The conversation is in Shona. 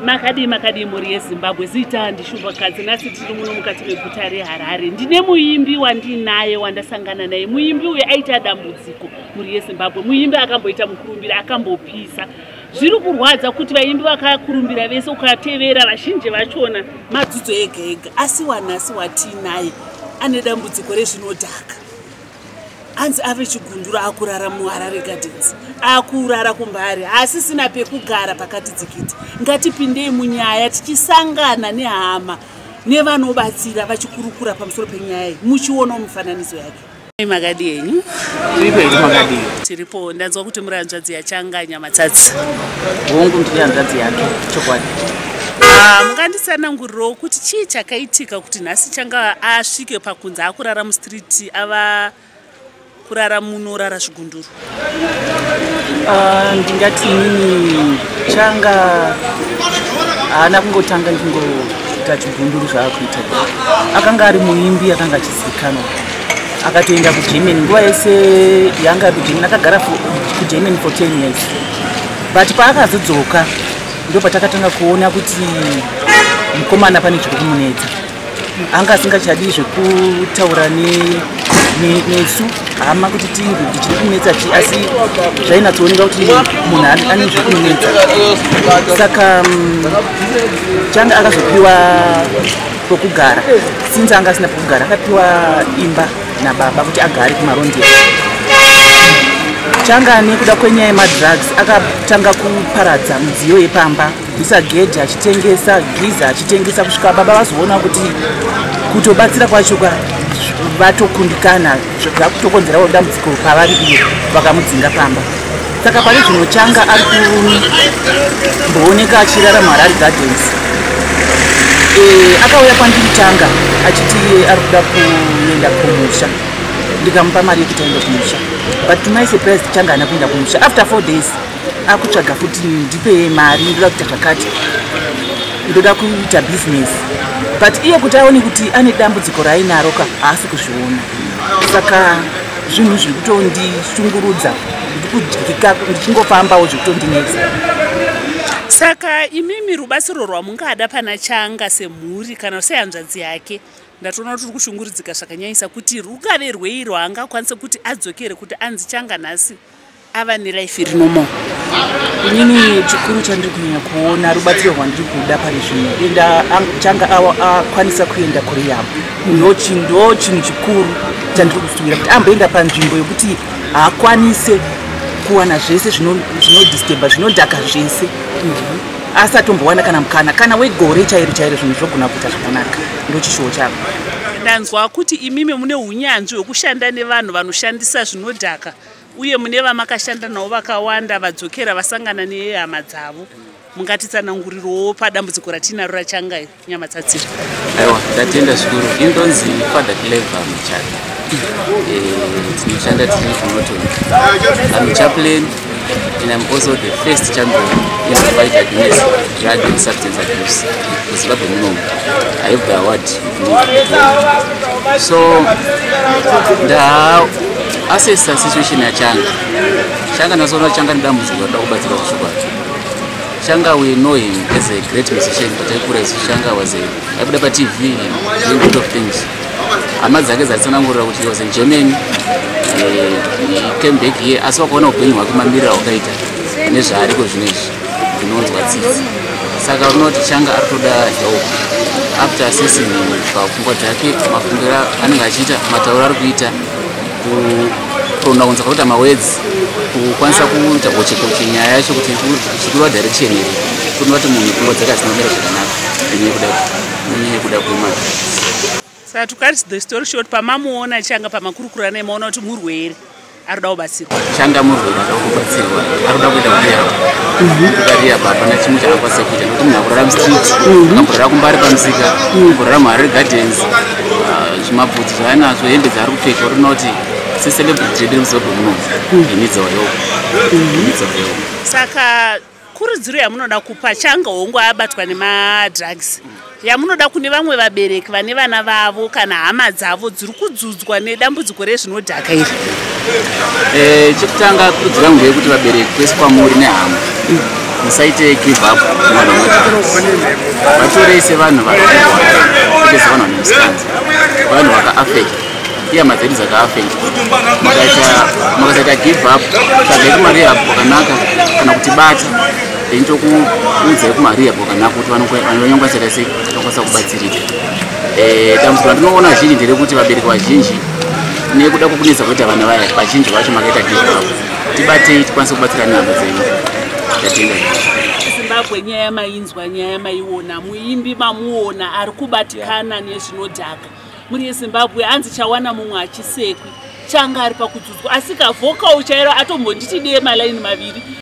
makadii makadii mhuri yezimbabwe zita ndishuvakadzi nhasi tiri muno mukati meguta reharare ndine muimbi wandinaye wandasangana naye muimbi uyo aita dambudziko mhuri yezimbabwe muimbi akamboita mukurumbira akambopisa zviri kurwadza kuti vaimbi vakakurumbira vese ukatevera vazhinji vachona madzidzo ega ega asi wanhasi watiinaye ane dambudziko rezvinodhaka hanzi ave chigundura akurara muharare gardens akurara kumbari haasisina pekugara pakati dzikiti ngatipindei munyaya tichisangana nehama nevanobatsira vachikurukura pamusoro penyaya iyi muchionawo mifananidzo yake makadi enyu tiripo ndanzwa kuti muri hanzvadzi yachanga nyamatsatsi hongu ndiri hanzvadzi yake chokwadi Ah, munganditsanangurirawo kuti chii chakaitika kuti nhasi changa asvike pakunzi akurara mustreet Ti ava kurara muno rara zvigunduru. Ah, ndingati inini changa haana kungotanga ndingoita chigunduru zvaakuita akanga ari muimbi akanga achizivikanwa akatoenda kugermany nguva yese yanga ari kugermany akagara kugermany for ten years but paakazodzoka ndopatakatanga kuona kuti mukomana pane zviri kumunetsa anga asingachadi zvekutaura nesu hama kuti tinge kuti chiri kunetsa chi asi zvainatsooneka kuti munhu ane zvekunetsa saka mm, changa akazopiwa pokugara since anga asina pokugara akapiwa imba nababa kuti agare kumarondia changa nekuda kwenyaya yemadrugs akatanga kuparadza mudziyo yepamba kuisa gedhi achitengesa giza achitengesa kusvika baba vazoona kuti kutobatsira kwacho ka vatokundikana zvakutokonzerawo dambudziko pavari iyo vakamudzinga pamba saka pane zvino changa ari kumbooneka achirara muharari gardens eh, akauya kwandiri changa achiti ari kuda kuenda kumusha ndikamupa mari yekuti aenda kumusha but to my surprise changa ana kuenda kumusha after four days akutsvaga futi ndipe mari ndoda kuita zvakati ndoda kuita business but iye kuti aone kuti ane dambudziko raainaro ka haasi kuzviona saka zvinhu zviri kutondishungurudza ndikudyika ndichingofambawo zviri kutondinetsa saka imimi rubatsiro rwamungada pana changa semhuri kana sehanzvadzi yake ndatoona kuti uri kushunguridzika zvakanyanyisa kuti rukave rwei rwaangakwanise kuti adzokere kuti anzi changa nhasi ava nelife iri normal inini chikuru chandiri kunyanya kuona rubatsiro rwandiri kuda pane zvino enda changa akwanisa kuenda kurehab ndo chinhu chikuru chandiri kusuwira kuti amboenda panzvimbo yokuti haakwanise kuwana zvese zvinodisteba zvinodhaka zvese asi atombowana kana mukana kana wegore chairo chairo zvinhu zvogona kuita zvakanaka ndo chishuwo chavo ndanzwa kuti imimi mune unyanzvi hwekushanda nevanhu vanoshandisa zvinodhaka uye mune vamakashanda navo vakawanda vadzokera vasangana nehama dzavo mungatitsanangurirowo padambudziko ratiinaro rachanga nyama tsatsira aiwa ndatenda zvikuru indonzi fada clever muchata eh, tinoshanda tiri kunoton amuchaplain and i'm also the first champion in the fight against drug and substance abuse kuzimbabwe munomu i have the award so nda Assessor situation yachanga changa nasoona changa nedambudziko rinoda kubatsirwa zvechokwadi changa we know him as a great musician but aikura isu changa was a aibuda patv doing good of things hama dzake dzatsanangurira kuti was in germany eh, came back here asi wakaona upenyu hwake mamirira hwakaita nezvaariko zvino izvi zvinonzwa tsitsi saka unoti changa ari kutoda help after assessing pfungwa dzake mafungiro anenge achiita matauro ari kuita kuronda kunzwa kuita mawords kukwanisa kuita gochekoche nyaya yacho kuti zvichidiwa direction here kuno vati munhu pfungwa dzake hadzina kumira zvakanaka inyaya kuda inyaya kuda kuima saka to cut the story short pamamuona changa pamakurukura naye maona kuti murwere ari kuda kubatsira Shanda murwere akakubatsirwa akuda kuita kuria kukaria mhm. baba nachimwe chakakwanisa kuita nokuti munhu akurara mustreet mhm. akurara kumbari pamusika mhm. kurara muharare gardens ah, zvimabvudzi zvaanazvo hembe dzaari kupfeka uri noti seselebrity yedu remuzimbabwe muno inidzoyo inidzoyo saka kurudziro yamunoda kupa changa hongu abatwa nemadrugs yamunoda kune vamwe vabereki vane vana vavo kana hama dzavo dziri kudzudzwa nedambudziko rezvinodhaka iri eh, chekutanga kurudziro yangu ndeyekuti vabereki kwese kwamuri nehama musaite give up mwana vatorei sevanhu vakakuti sevanhu vane musanzi vanhu vakaafekta ihama dzedu dzakaafekt makasaita give up tsvagai kumarehab kwakanaka kana kuti bata then tokuudzai kumarehab kwakanaka kuti vanonyongwa chata sei vanokwanisa kubatsirika eh, dambudziko randinoona zhinji nderekuti vabereki vazhinji nekuda kwokunetsa kuita vana vaya vazhinji vacho makaita give up tibatei tikwanise kubatsira nehama dzenyu tatenda zimbabwe nyaya yamainzwa nyaya yamaiona muimbi mamuona ari kubatikana nezvinodhaka mhuri yezimbabwe hanzi chawana mumwe hachisekwi changa ari pakudzudzwa asi kavhokawo chairo atombonditi dee malaini maviri